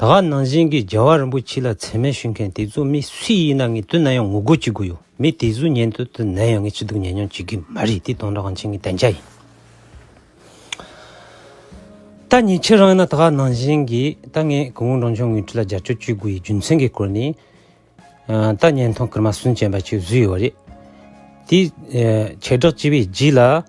ད་ག་ནང་བཞིན་གྱི་རྒྱལ་བ་རིན་པོ་ཆེ་ལ་མཚན་མེད་ཞུས་མཁན་དེ་ཚོ་མི་སུ་ཡིན་ན་ངེད་དུ་ན་ཡང་ངུ་དགོད་ཅི་དགོས་ཡོད་མི་དེ་ཚོའི་ཉན་དུ་དུ་ན་ཡང་ངས་ཅི་སྡུག་ཉན་མྱོང་བྱེད་ཀྱི་མ་རེད་དེ་སྟོང་ར་གངས་ཅན་གྱི་བདེ་འཇགས་ཡིན། ད་ངེད་ཁྱེད་རང་ཡིན་ན་ད་ག་ནང་བཞིན་གྱི་ད་ངས་གུང་ཨུ་འབྲང་ཆུང་ངུས་ཁྲི་ལ་རྒྱབ་སྐྱོར་བྱེད་དགོས་ཡི་རྒྱུ་མཚན་གྱི་སྐོར་ནི། ད་བརྙན་ཐུང་ཀརྨ་སུན་ཅན་པ་ཅིག་བཟོས་ཡོད་རེད་དེ། བྱེ་བྲག་སྤྱི་བའི་རྗེས་ལ།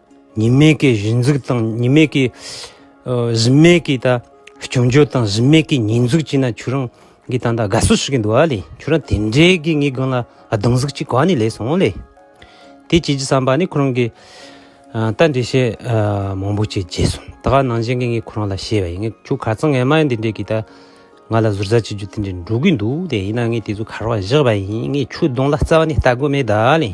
ཉི་མའི་གེའི་གཞི་འཛུགས་དང་ཉི་མའི་གེའི་གཟིམས་མལ་གྱི་ད་བྱུང་རྒྱུ་དང་གཟིམས་མལ་གྱི་ཉིས་འཛུགས་ཅིག་ན་ཁྱོད་རང་གིས་ད་ད་དགའ་བསུ་ཞུ་གི་འདུག་ལེ་ཁྱོད་རང་དེ་འདྲའི་གི་ངའི་དགོན་ལ་གདུང་གཟུགས་ཅིག་ག་ནས་ལེན་སོང་ལེ། དེ་བྱེད་ཀྱི་བསམ་པ་ནི་ཁོ་རང་གིས་ད་འདྲའི་བཤད་མང་པོ་ཅིག་བྱས་སོང་ད་ག་ནང་བཞིན་གྱི་ངས་ཁོ་རང་ལ་བཤད་པ་ཡིན་ངས་ཁྱོད་ག་ཚང་ངས་མ་འདི་འདྲའི་གི་ད་ང་ལ་ཟུར་ཟ་བྱེད་རྒྱུ་དེ་འདྲའི་འགྲོ་གི་འདུག་ལེ་ཡིན་ན་ངས་དེ་ཚོ་གར་བ་བཞག་པ་ཡིན་ངས་ཁྱོད་གདོང་ལ་རྩ་བ་ནས་ལྟ་དགོས་མེད་ད་ལེ།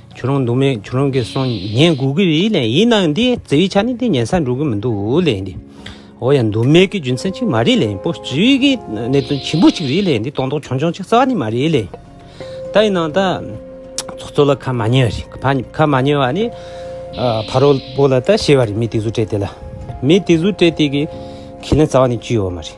ཁྱོད་རང་འདུག་མེད་ཁྱོད་རང་གིས་སོང་ངས་སྒུག་གི་རེད་ལན་ཡིན་ནའང་འདི་རྩེ་བའི་ཆ་ནས་འདི་ཉལ་སར་འགྲོ་གི་མི་འདུག་ལན་འདི་འོ་ཡ་འདུག་མེད་ཀྱི་རྒྱུ་མཚན་གཅིག་མ་རེད་ལན་སྤོ་སྤྱིའི་གི་གནད་དོན་ཆེན་པོ་གཅིག་རེད་ལན་འདི་སྟོང་ཐོག་ཆུང་ཆུང་གཅིག་རྩ་བ་ནས་མ་རེད་ལན། ད་ཡིན་ནའང་ད་ཚོགས་གཙོ་ལ་ཁ་མ་ཉེ་བ་རེད་ཕ་ཁ་མ་ཉེ་བ་ནི་ཕ་རོལ་པོ་ལ་ད་ཤེས་བ་རེད་མི་དེ་ཚོ་སྤྲད་དེ་ལ་མི་དེ་ཚོ་སྤྲད་དེ་གི་ཁས་ལེན་རྩ་བ་ནས་གཅོད་ཡོད་མ་རེད།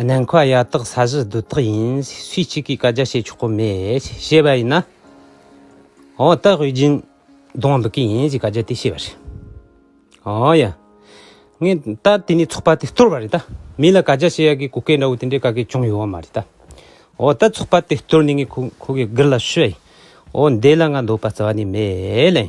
ནན་ཁོ་ཡ་དག་ས་གཞི་སྡུག་དག་ཡིན་སུས་གཅིག་གིས་བཀའ་རྒྱ་བྱེད་ཆོག་གོ་མེད་བྱེད་པ་ཡིན་ན་ཨོ་སྟག་དབུས་རྒྱུན་གདོང་འབུད་ཀི་ཡིན་གྱི་བཀའ་རྒྱ་དེ་བྱེད་པ་རེད་ཨོ་ཡ་ངས་ད་དེ་ནས་ཚོགས་པ་དེ་བསྟོར་བ་རེད་ད་མི་ལ་བཀའ་རྒྱ་བྱེད་ཡ་གི་གུ་གེ་འདྲ་བོ་དེ་འདྲའི་བཀའ་གི་ཅུང་ཡོད་བ་མ་རེད་ད་ཨོ་ད་ཚོགས་པ་དེ་བསྟོར་ནས་ངས་ཁོ་གི་དགུ་ལ་ཤོད་ཨོ་འདེ་ལ་ང་འདོད་པ་རྩ་བ་ནས་མེད་ལན།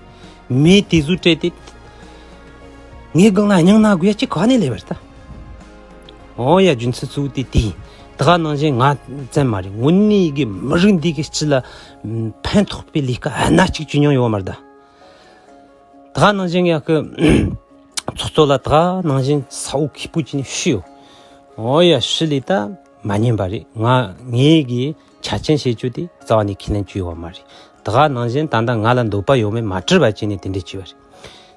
མི་དེ་གཟུགས་སྤྲད་དེ་ངའི་སྒང་ལ་སྙིང་ན་དགོས་ཡ་གཅིག་ག་ནས་ལས་པར་ལྟ་ཨོ་ཡ་རྒྱུན་ཚུལ་ཚུགས་དེ་དེ་དག་ནང་བཞིན་ང་བཙན་མ་རེད་ངུ་ནི་གི་མི་རིགས་འདི་གི་སྤྱི་ལ་ཕན་ཐོགས་པའི་ལས་ཀ་ཨ་ན་གཅིག་བྱེད་མྱོང་ཡོད་མ་རེད་ད་དག་ནང་བཞིན་ཡ་གི་ཚོགས་གཙོ་ལ་དག་ནང་བཞིན་ས་འོག་གི་པུ་ཅིན་ཤི་ཡོད་ཨོ་ཡ་ཤི་ལི་ད་མ་ཉན་པ་རེད་ང་ངེས་གི་བྱ་ཆེན་བྱེད་རྒྱུ་དེ་རྩ་བ་ནས་ཁས་ལེན་བཅུ་ཡོད་བ་མ་རེད། དེ་ག་ནང་བཞིན་ད་ལྟ་ང་ལ་འདོད་པ་ཡོད་མེད་མ་དྲིས་པ་ཅན་ནས་དེ་འདྲས་བྱས་བ་རེད།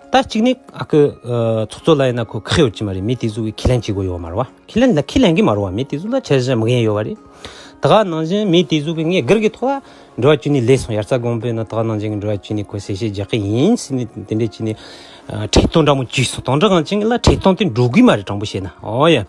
ད་གཅིག་ནས་ཨ་ཁུ་ཚོགས་གཙོ་ལ་ཡིན་ན་ཁོ་ཁག་ཡོད་ཀྱི་མ་རེད་མི་དེ་ཚོ་གི་ཁས་ལེན་བྱེད་དགོས་ཡོད་བ་མ་རེད་བ། ཁས་ལེན་ད་ཁས་ལེན་གི་མ་རེད་བ་མི་དེ་ཚོ་ལ་ཆ་ཤས་མི་གཡེང་ཡོད་བ་རེད། དེ་ག་ནང་བཞིན་མི་དེ་ཚོ་གི་ངས་སྒེར་གྱི་ཐོག་ལ་འགྲོ་བ་བཅུ་ནས་ལས་སོང་ཡར་རྩ་དགོངས་པའི་ནང་དེ་ག་ནང་བཞིན་གྱི་འགྲོ་བ་བཅུ་ནས་ཁོས་གསལ་བཤད་རྒྱག་གི་ཡིན་ཟེར་ནས་དེ་འདྲས་བྱས་ནས་ཁྲི་སྟོང་འདྲ་མོ་བཅུས་སོང་དང་འདྲ་གང་བྱས་ངེད་ལ་ཁྲི་སྟོང་དེ་འགྲོ་གི་མ་རེད་དྲང་པོ་བཤད་ན་ཨོ་ཡ།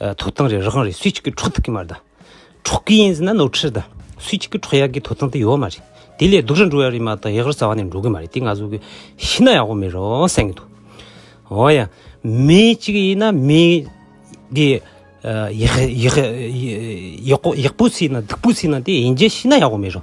ཐོབ་ཐང་རེད་རི་ཁང་རེད་སུས་གཅིག་གི་འཕྲོག་ཐུབ་ཀྱི་མ་རེད་ད། འཕྲོག་གི་ཡིན་ཟེར་ན་ནོར་འཁྲུལ་རེད་ད། སུས་གཅིག་གི་འཕྲོག་ཡག་གི་ཐོབ་ཐང་དེ་ཡོད་མ་རེད། དེ་ལས་སྡུག་རེ་འགྲོ་ཡག་རེད་མ་ད་ཡག་རེ་ཟ་བ་ནས་འགྲོ་གི་མ་རེད་དེ་ང་ཚོ་གི་ཤི་ན་ཡག་པོ་མེད་རོ་སེམས་གི་འདུག། འོ་ཡ། མི་གཅིག་ཡིན་ན་མི། དེ། ཡག། ཡག་པོ་སྲིད་ན་སྡུག་པོ་སྲིད་ན་དེ་ཡིན་རྗེས་ཤི་ན་ཡག་པོ་མེད་རོ།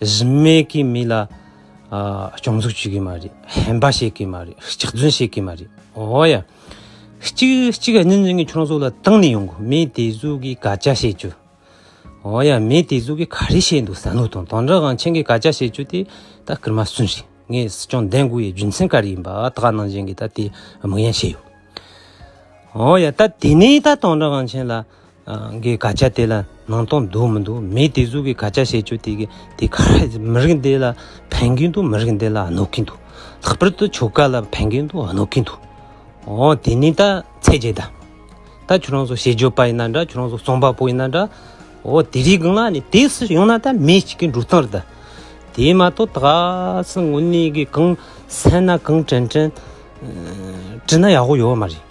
གཞི་མེད་ཀྱི་མི་ལ་སྐྱོང་འཛུགས་བྱེད་ཀྱི་མ་རེད་ཧམ་པ་བྱེད་ཀྱི་མ་རེད་ལྕགས་རྫུན་བྱེད་ཀྱི་མ་རེད་འོ་ཡ། གཅིག་གཅིག་གཉིས་གཉིས་ཀྱི་ཁྱོད་རང་ཚོ་ལ་དང་ནས་ཡོང་གི་མི་དེ་ཚོ་གིས་ག་ཅག་བྱེད་རྒྱུ། འོ་ཡ་མི་དེ་ཚོ་གིས་ག་རེ་བྱེད་འདུག་བསམ་བློ་དང་དོན་དག་གང་མཁྱེན་གིས་ག་ཅག་བྱེད་རྒྱུ་དེ་ད་སྐར་མ་སུན་རེད་ངས་སྲིད་སྐྱོང་ལྡན་དགོས་ཡའི་རྒྱུ་མཚན་ག་རེ་ཡིན་པ་ད་ག་ནང་བཞིན་གྱི་ད་དེ་དམིགས་ཡན་བྱས་ཡོད། འོ་ཡ་ད་དེ་ནས་ད་དོན་དག་གང་མཁྱེན་ལ། གི་དགག་བྱ་དེ་ལ་ནང་སྟོང་འདུག་མི་འདུག་མི་དེ་ཚོ་གི་དགག་བྱ་བྱེད་སྤྱོད་དེ་དེ་ག་རེ་མི་རིགས་འདི་ལ་ཕན་གྱི་འདུག་མི་རིགས་འདི་ལ་གནོད་ཀྱི་འདུག་ལྷག་པར་དུ་ཆོལ་ཁ་ལ་ཕན་གྱི་འདུག་གནོད་ཀྱི་འདུག་འོ་དེ་ནི་ད་ཚད་རྗེས་ད་ད་ཁྱོད་རང་ཚོ་ཤེས་འཇོན་པ་ཡིན་ན་འདྲ་ཁྱོད་རང་ཚོ་རྩོམ་པ་པོ་ཡིན་ན་འདྲ་འོ་དེ་རིགས་ང་ནི་དེ་སུ་ཡོང་ན་ད་མི་ཞིག་གི་འགྲོ་སྟངས་རེད་ད་དེ་མ་གཏོགས་ད་གཟིགས་ངོ་ནི་གི་གང་བསད་ན་གང་དྲན་དྲན་དྲིས་ན་ཡག་པོ་ཡོད་མ་རེད་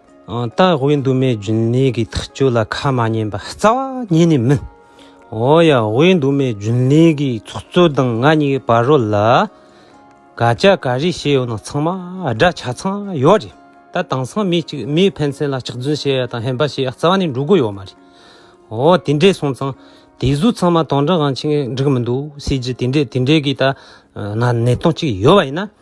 སྟག་ཝེ་འདུ་མའི་རྒྱུན་ལས་ཀྱི་ཐག་གཅོད་ལ་ཁ་མ་ཉན་པ་རྩ་བ་ཉིད་ནས་མིན། འོ་ཡ་ཝེ་འདུ་མའི་རྒྱུན་ལས་ཀྱི་ཚོགས་གཙོ་དང་ང་གཉིས་ཀྱི་བར་རོ་ལ་དགག་བྱ་ག་རེ་བྱས་ཡོད་ན་ཚང་མ་སྒྲ་ཆ་ཚང་ཡོད་རེད་ད་དེང་སང་མི་གཅིག་མིའི་ཕན་ཚན་ལ་ལྕགས་རྫུན་བཤད་ཡ་དང་ཧེམ་པ་བྱེད་ཡ་རྩ་བ་ནས་འགྲོ་གི་ཡོད་མ་རེད། འོ་དེ་འདྲས་སོང་ཙང་དེ་གཟུགས་ཚང་མ་དོང་དྲང་གང་ཆེ་འགྲིག་མི་འདུག་སྲིད་ཇི་དེ་འདྲས་དེ་འདྲས་ཀྱི་ད་ནང་གནད་དོན་གཅིག་ཡོད་པ་ཡིན་ན།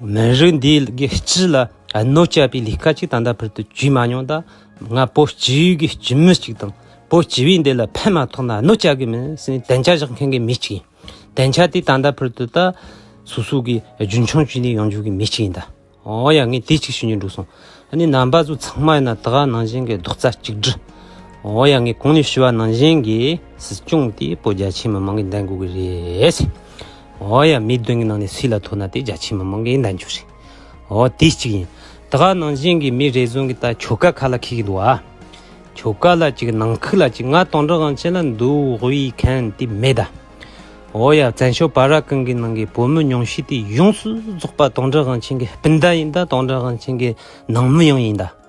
མི་རིགས་འདིའི་སྒེར་སྤྱི་ལ་གནོད་བསྐྱལ་པའི་ལས་ཀ་ཅིག་ད་ལྟ་བར་དུ་བྱས་མ་མྱོང་ད། ང་བོད་སྤྱི་ཡུལ་གྱི་སྤྱི་མི་ཅིག་དང་བོད་སྤྱི་བའི་འདི་ལ་ཕན་མ་ཐོགས་ན་གནོད་བསྐྱལ་གི་མིན་སའི་གདེང་ཆ་བཞག་མཁན་གྱི་མི་ཅིག་ཡིན། གདེང་ཆ་དེ་ད་ལྟ་བར་དུ་ད་སོ་སོ་གིས་རྒྱུན་འཁྱོངས་བྱས་ནས་ཡོང་རྒྱུ་གི་མི་ཅིག་ཡིན། ཨོ་ཡ་ངས་དེ་ཅིག་ཤེས་རྒྱུ་འགྲུག་སོང། ཨ་ནི་རྣམ་པ་ཚོ་ཚང་མ་ཡིན་ན་དགའ་ནང་བཞིན་གྱི་རྡོག་རྩ་གཅིག་སྒྲིལ། ཨོ་ཡ་ངས་གོང་ནས་ཞུས་བ་ནང་བཞིན་གྱི་སྲིད་སྐྱོང་དེ་བོད་རྒྱ་ཆེའི་མི་མང་གི་མདུན་དགོས་གི་རེད། འོ་ཡ་མི་བདུན་གྱི་ནང་ནས་སུས་ལ་ཐུག་ན་དེ་རྒྱ་ཆེའི་མི་མང་གི་འདང་རྒྱུ་རེད། འོ་དེ་གཅིག་ཡིན། ད་ག་ནང་བཞིན་གྱི་མི་རེ་ཟུང་གི་ད་ཁྱོ་ག་ཁ་ལ་ཁེལ་གྱི་འདུག་ཨ། ཁྱོ་ག་ལ་ཅིག་ནང་ཁུལ་ལ་ཅིག་ང་སྟོང་འདྲ་གང་བྱེད་ལ་འདུག་ཧུ་ཡིག་མཁན་དེ་མེད་ད། འོ་ཡ་བཙན་བྱོལ་བ་ར་ཀང་གི་ནང་གི་བོད་མི་ཉུང་ཤས་དེ་ཡོངས་སུ་རྫོགས་པ་སྟོང་འདྲ་གང་བྱེད་གི་སྤུན་ཟླ་ཡིན་ད་སྟོང་འདྲ་གང་བྱེད་གི་ནང་མི་ཡང་ཡིན་ད།